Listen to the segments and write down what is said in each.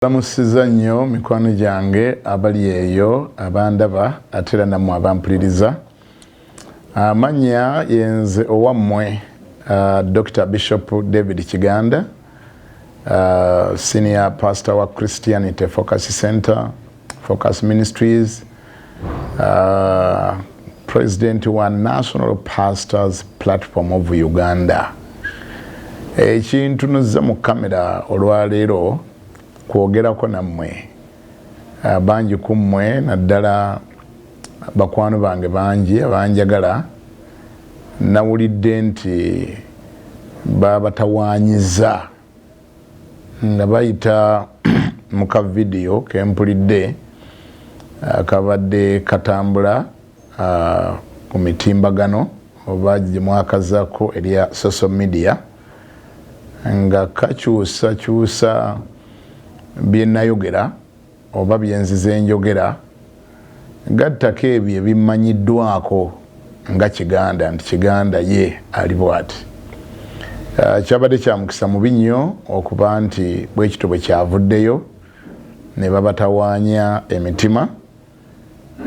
Mbalamusiza nnyo mikwano gyange abali eyo abandaba ate era nammwe abampuliriza. Amannya yenze owammwe Dokita Bishop David Kiganda, Senior Pastor wa Christianity Focus Center, Focus Ministries, Uh, president wa national pastors platform of uganda ekintu eh, nuzze mu kamera olwaleero kwogerako nammwe uh, bangi ku mmwe naddala bakwano bange bangi abanjagala nawulidde nti babatawanyiza nga bayita mu ka vidiyo ke mpulidde akabadde katambula ku mitimbagano oba gye mwakazako erya social media nga kakyusakyusa bye nayogera oba bye nzize njogera gattako ebyo ebimmanyiddwako nga Kiganda nti Kiganda ye ali bw'ati. Eh, kyabadde kya mukisa mubi nnyo okuba nti bwe kityo bwe kyavuddeyo ne babatawaanya emitima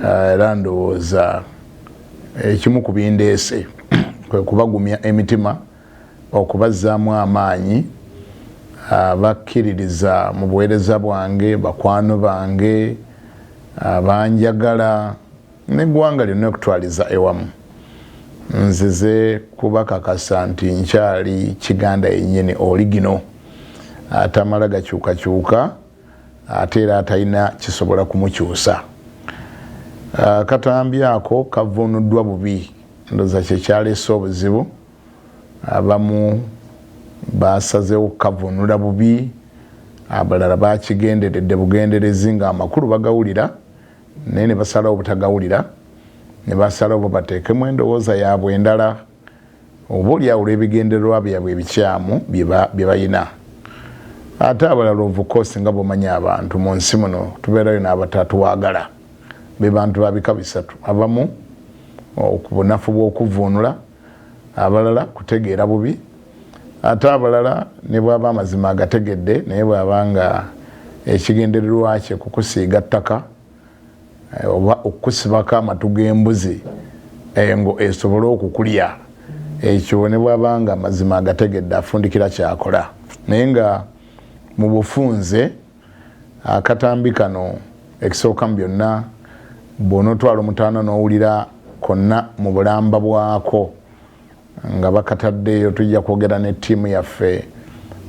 eh, era ndowooza ekimu ku bindeese kwe kubagumya emitima okubazzaamu amaanyi abakkiririza mu buweereza bwange, bakwano bange, abanjagala n'eggwanga lyonna okutwaliza ewamu. Nzize kubakakasa nti nkyali Kiganda yennyini oligino, atamala gakyukakyuka ate era atalina kisobola kumukyusa. Akatambi ako kavvuunuddwa bubi, ndowooza kye kyaleese obuzibu. Abamu baasazeewo kukavvuunula bubi, abalala baakigenderedde bugenderezi ng'amakulu bagawulira naye ne basalawo obutagawulira ne basalawo babateekemu endowooza yaabwe endala oboolyawo olw'ebigendererwa byabwe ebikyamu bye balina. Ate abalala of course nga bw'omanyi abantu mu nsi muno tubeerayo n'abatatwagala be bantu ba bika bisatu abamu ku bunafu bw'okuvvuunula, abalala kutegeera bubi ate abalala ne bw'aba amazima agategedde naye bw'aba nga ekigendererwa kye kukusiiga ttaka eh, oba okukusibako amatu g'embuzi engo eh, esobole okukulya ekyo ne bw'aba nga amazima agategedde afundikira kyakola naye nga mu bufunze Akatambi kano ekisooka mu byonna bw'onootwala omutaana n'owulira konna mu bulamba bwako nga bakataddeeyo tujja kwogera ne ttiimu yaffe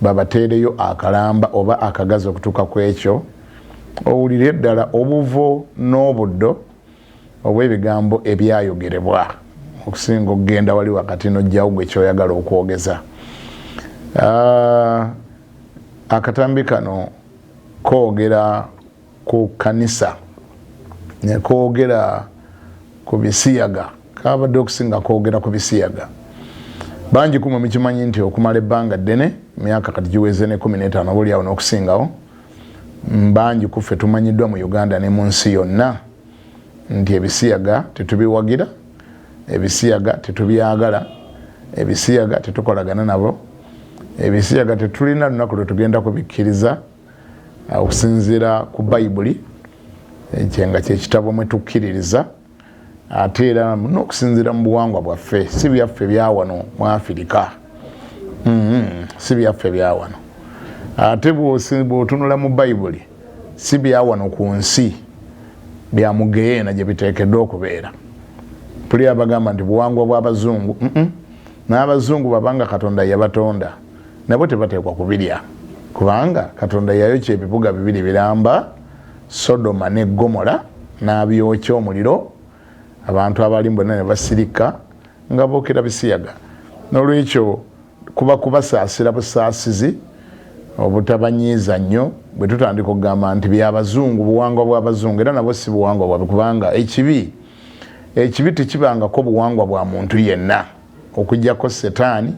babateereyo akalamba oba akagazi okutuuka ku ekyo owulire ddala obuvo n'obuddo obw'ebigambo ebyayogerebwa okusinga okugenda wali wakati n'ojjawo gwe kyoyagala okwogeza ah, akatambi kano koogera ku kanisa nekoogera ku bisiyaga kabadde okusinga koogera ku bisiyaga bangi kumwe mukimanyi nti okumala ebbanga ddene myaka kati giweze ne kumi n'etaano oba olyawo n'okusingawo bangi kuffe tumanyiddwa mu uganda ne mu nsi yonna nti ebisiyaga tetubiwagira ebisiyaga tetubyagala ebisiyaga tetukolagana nabo ebisiyaga tetulina lunaku lwetugenda kubikkiriza uh, okusinziira ku bayibuli kyenga kyekitabo mwetukkiririza ate era nokusinziira mu buwangwa bwaffe si byaffe byawano mu afirika mm-hmm. si byaffe byawano ate bwotunula mu bayibuli si bya wano ku nsi bya mugeyeena gye biteekeddwa okubeera tuli abagamba nti buwangwa bw'abazungu n'abazungu babanga katonda yabatonda nabo tebateekwa kubirya kubanga katonda yayokya ebibuga bibiri biramba sodoma ne gomola n'abyokya omuliro abantu abalimu bonna ne basirika nga bookera bisiyaga n'olwekyo Kuba kubasaasira busaasizi, obutabanyiiza nnyo. Bwe tutandika okugamba nti bya Bazungu, buwangwa bwa Bazungu, era nabwo si buwangwa bwabwe kubanga ekibi ekibi tekibangako buwangwa bwa muntu yenna okuggyako Setaani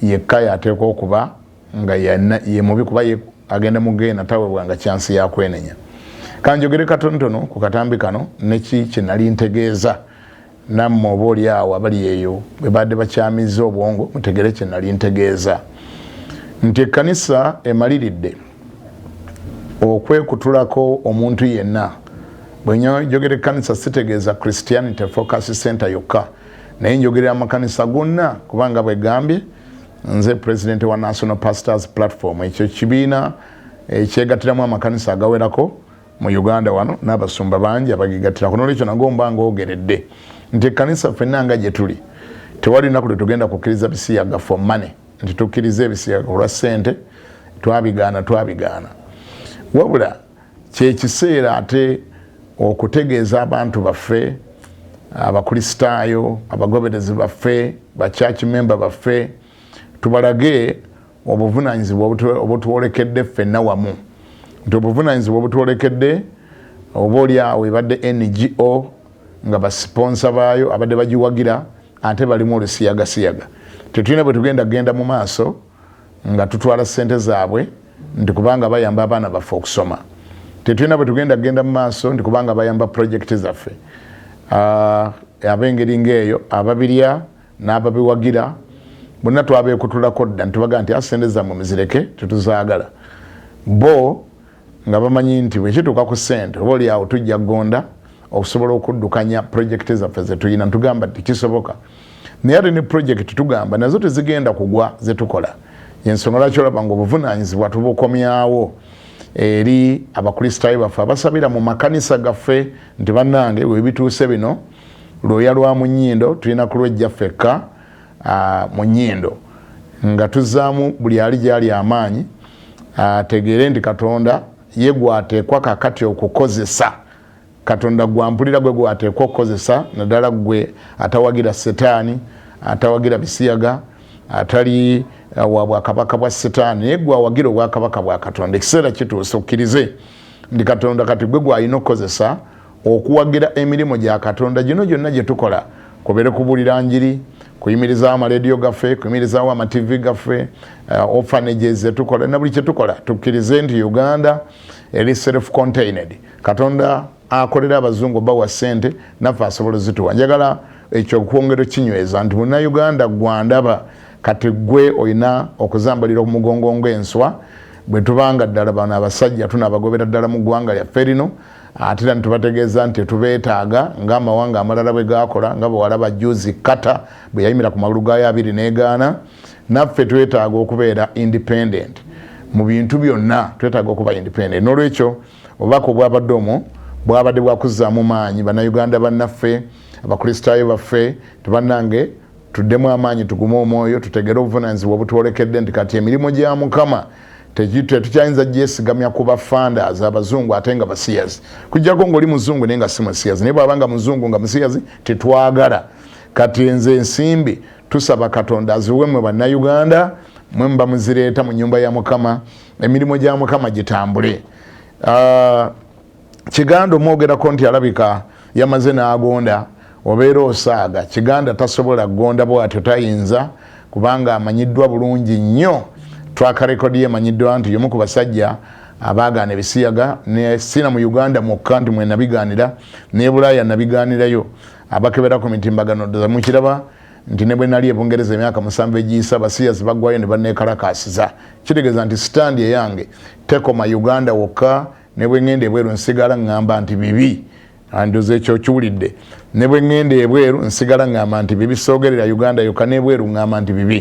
yekka y'ateekwa okuba nga ye mubi kuba ye agenda mu genda tawebwanga kyansi ya kwenenya. Ka njogere katonotono ku katambi kano ne ki kye nali ntegeeza. Nammwe oba oli awo abali eyo bwe baadde bakyamizza obwongo, mutegere kye nali ntegeeza nti ekkanisa emaliridde okwekutulako omuntu yenna. Bwe njogera ekkanisa sitegeeza Christianity Focus Center yokka, naye njogerera amakanisa gonna kubanga bwe gambye nze pulezidenti wa National Pastors Platform, ekyo kibiina ekyegattiramu amakanisa agawerako. Mu Uganda wano n'abasumba bangi abagegattirako n'olwekyo nago mba ngoogeredde nti ekkanisa ffenna nga gye tuli tewali lunaku lwe tugenda kukkiriza bisiyaga for money nti tukkiriza ebisiyaga olwa ssente twabigaana twabigaana wabula kyekiseera ate okutegeeza abantu baffe abakristaayo abagoberezi baffe bachurch memba baffe tubalage obuvunanyizibwa obutwolekedde ffenna wamu nti obuvunanyizibwa obutwolekedde oba oli awo ebadde ngo nga basiponsa baayo abadde bagiwagira ate balimu olusiyagasiyaga tetulina bwe tugenda kugenda mu maaso nga tutwala ssente zaabwe nti kubanga bayamba abaana baffe okusoma tetulina bwe tugenda kugenda mu maaso nti kubanga bayamba pulojekiti zaffe ah, ab'engeri ng'eyo ababirya n'ababiwagira bonna twabeekutulako dda nitubaga nti asente ah, zammwe muzireke tetuzaagala bo nga bamanyi nti bwekituuka ku sente oba oli awo tujja gonda okusobola okuddukanya purojekiti zaffe zetulina ntugamba nti kisoboka naye ate ne purojekiti tugamba nazo tezigenda kugwa zetukola yensonga lwaki olaba nga obuvunanyizibwa tubukomyawo eri abakristaayo baffe abasabira mu makanisa gaffe nti bannange webituuse bino lwoya lwa mu nnyindo tulina kulwejja ffekka mu nnyindo nga tuzzaamu buli ali gyali amaanyi ategeere nti katonda ye gwateekwa kakati okukozesa katonda gwampulira gwe gwateekwa okukozesa naddala gwe atawagira setaani atawagira bisiyaga atali uh, wa bwakabaka bwa setaani naye gwawagira obwakabaka bwa katonda ekiseera kituuse okkirize ndi katonda kati gwe gwalina okukozesa Okuwagira emirimu gya Katonda gino gyonna gye tukola, kubeere kubuulira njiri, kuyimirizaawo amalediyo gaffe, kuyimirizaawo amativi gaffe, uh, orphanages ze tukola na buli kye tukola, tukkirize nti Uganda eri self contained. Katonda akolera abazungu bawa ssente naffe asobola ozituwa. Njagala ekyo okwongera okinyweza nti munnayuganda gwandaba kati gwe olina okuzambalira ku mugongo ng'enswa bwe tuba nga ddala bano abasajja tunaabagobera ddala mu ggwanga lyaffe lino ate era netubategeeza nti tetubeetaaga ng'amawanga amalala bwe gaakola nga bwewalaba juzi kata bwe yayimira ku magulu gaayo abiri n'egaana naffe twetaaga okubeera independent mu bintu byonna twetaaga okuba independent n'olwekyo obubaka obwabadde omwo bwabadde bwakuzzaamu maanyi bannayuganda bannaffe abakristaayo baffe tebanange tuddemu amaanyi tugume omwoyo tutegere obuvunanyizibwa obutwolekedde nti kati emirimu gya mukama tetukyayinza gyesigamya ku bafandas abazungu ate nga basiyazi kujjako ngaoli muzungu naye nga si musiyazi naye bwabanga muzungu nga musiyazi tetwagala kati enze ensimbi tusaba katonda aziwe mwe bannauganda mwe muba muzireeta mu nyumba ya mukama emirimu gya mukama gitambule uh, kiganda omwogerako nti alabika yamaze n'agonda obeera osaaga kiganda tasobola gonda bwatyo tayinza kubanga amanyiddwa bulungi nnyo twaka rekodi ye emanyiddwa nti yomu ku basajja abaagaana ebisiyaga nesiina mu uganda mwokka nti mwenabigaanira nebulaaya nabigaanirayo abakebera ku mitimbagano ddoza mukiraba nti ne bwe nali ebungereza emyaka musanvu egiyisa abasiyazi bagwayo ne banneekalakaasiza kitegeeza nti sitaandi eyange tekoma uganda wokka ne bwe ŋŋenda ebweru nsigala ŋŋamba nti bibi andoza ekyo okiwulidde ne bwe ŋŋenda ebweru nsigala ŋŋamba nti bibi soogerera uganda yokka n'ebweru ŋŋamba nti bibi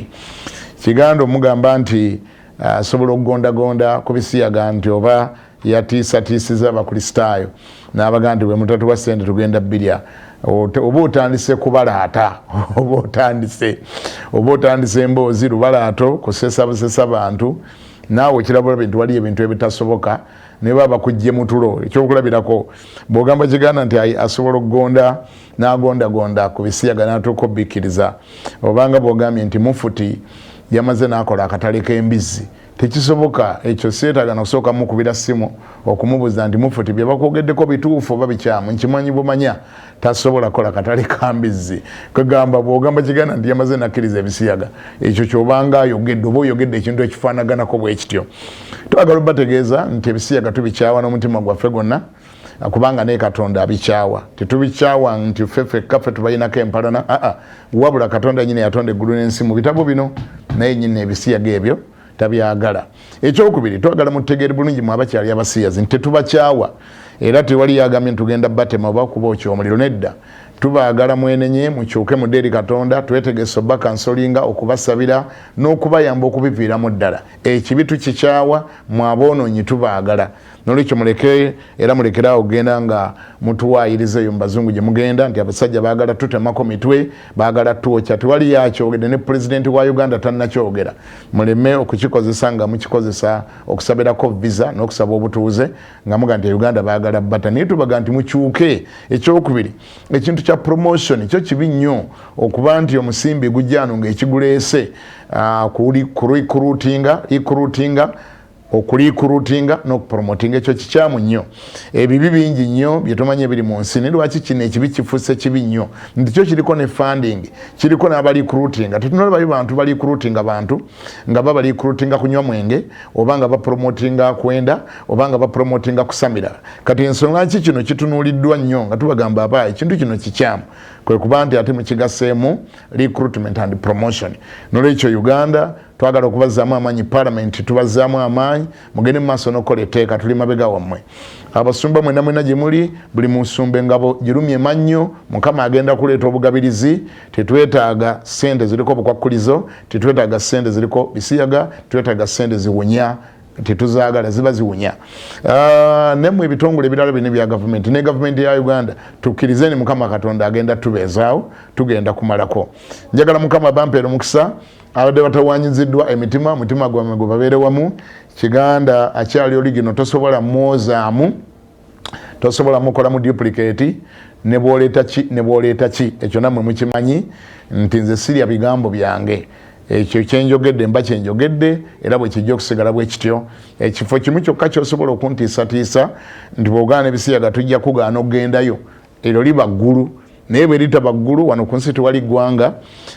kiganda omugamba nti ah, asobola okugondagonda ku bisiyaga nti oba yatiisatiisiza abakristaayo n'abaga nti bwe mutatuwa ssente tugenda birya oba otandise kubalaata oba otandise oba otandise emboozi lubalaato kusesa busesa bantu naawe kirabula bintu waliyo ebintu ebitasoboka naye baba bakujje mutulo ekyokulabirako bwogamba kiganda nti asobola okugonda nagondagonda ku bisiyaga natuuka obikkiriza obanga bwogambye nti mufuti yamaze nakola akatale k'embizzi tekisoboka ekyo seetaga nokusooka mukubira simu okumubuza nti mufuti byebakwogeddeko bituufu oba bikyamu nkimanyi bumanya tasobola kola katale kambizzi kwegamba bwogamba kiganda nti yamaze nakkiriza ebisiyaga ekyo kyobanga ayogedde oba oyogedde ekintu ekifaanaganako bwekityo twagala obategeeza nti ebisiyaga tubikyawa n'omutima gwaffe gwonna kubanga naye katonda abikyawa tetubikyawa nti ffe fekka ffe tubalinako empalana aa wabula katonda nyini yatonda eggulu n'ensi mu bitabo bino naye nyini ebisiyaga ebyo tabyagala ekyokubiri twagala mutegeere bulungi mwe abakyali abasiyazi nti tetubakyawa era tewali yagambye ntugenda batema oba kuba okyo omuliro nedda tubaagala mwenenye mukyuke mudde eri katonda twetegese oba kansolinga okubasabira n'okubayamba okubiviiramu ddala ekibi tukikyawa mwaboononyi tubaagala nolwekyo muleke era mulekere awo genda nga mutuwayiriza eyo mubazungu gyemugenda nti abasajja bagala tutemako mitwe bagala twokya tewali yakyogede ne pulezidenti wa uganda tanakyogera muleme okukikozesa nga mukikozesa okusabirako visa nokusaba obutuuze nga muga nti uganda bagala bata naye tubaga nti mukyuke ekyokubiri ekintu kya promotion kyo kibi nnyo okuba nti omusimbi gujano nga ekiguleese uh, ah, kuli kurutinga ikurutinga okuliikurutinga n'okupromotinga ekyo kikyamu nnyo ebibi bingi nnyo byetumanyi ebiri mu nsi naye lwaki kino ekibi kifuuse kibi nnyo nti kyo kiriko ne funding kiriko n'abaliikurutinga tetunala bayo bantu baliikurutinga bantu nga babaliikurutinga kunywa mwenge oba nga bapromotinga kwenda oba nga bapromotinga kusamira kati ensonga nki kino kitunuuliddwa nnyo nga tubagamba aba ekintu kino kikyamu kwe kuba nti ate mukigaseemu recruitment and promotion nolwekyo uganda twagala okubazzaamu amaanyi palamenti tubazzaamu amaanyi mugende mumaaso nokukola etteeka tuli mabega wammwe abasumba mwena mwena gye muli buli musumba engabo girumye mannyo mukama agenda kuleeta obugabirizi tetwetaaga sente ziriko obukwakkulizo tetwetaaga sente ziriko bisiyaga twetaaga sente ziwunya tetuzagala ziba ziwunya ah, nemwe ebitongole ebirala bino bya gavumenti ne gavumenti ya uganda tukkirize ni mukama katonda agenda tubeezaawo tugenda kumalako njagala mukama bampeera omukisa abadde batawanyiziddwa emitima omutima gwamwe gwe babeere wamu kiganda akyali oli gino tosobola mwozaamu tosobola mukola mu duplicate nebwoleeta ki nebwoleeta ki ekyo namwe mukimanyi nti nze sirya bigambo byange ekyo kyenjogedde mba kyenjogedde era bwekijja okusigala bwekityo ekifo kimu kyokka kyosobola okuntiisatiisa nti bwogaana ebisiyaga tujja kugaana okugendayo eryo liba ggulu naye bwe litaba ggulu wano ku nsi tewali ggwanga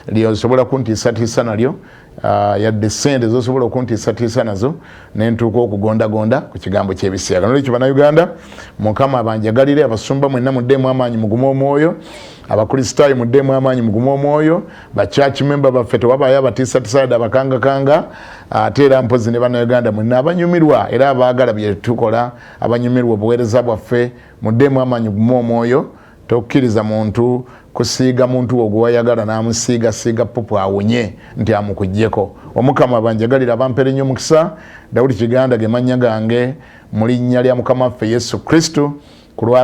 lyosobola kuntiisatiisa nalyo ah, yadde sente zosobola okuntiisatiisa nazo nentuuka okugondagonda ku kigambo kyebisiyaga nolwekyo banauganda mukama abanjagalire abasumba mwenna muddeemu amaanyi mugume omwoyo abakristaayo muddeemu amaanyi mugume omwoyo bachurch memba baffe tewabaayo abatiisatisaada abakangakanga ate era mpozi ne banauganda mwenna abanyumirwa era abaagala byetukola abanyumirwa obuweereza bwaffe Muddeemu amaanyi gume omwoyo tokukiriza muntu kusiiga muntu wo gwewayagala namusiiga siiga pupu awunye nti amukujjeko omukama banjagalira bampere nnyo mukisa dawudi kiganda ge mannya gange mu linnya lya mukama waffe yesu kristo kulwa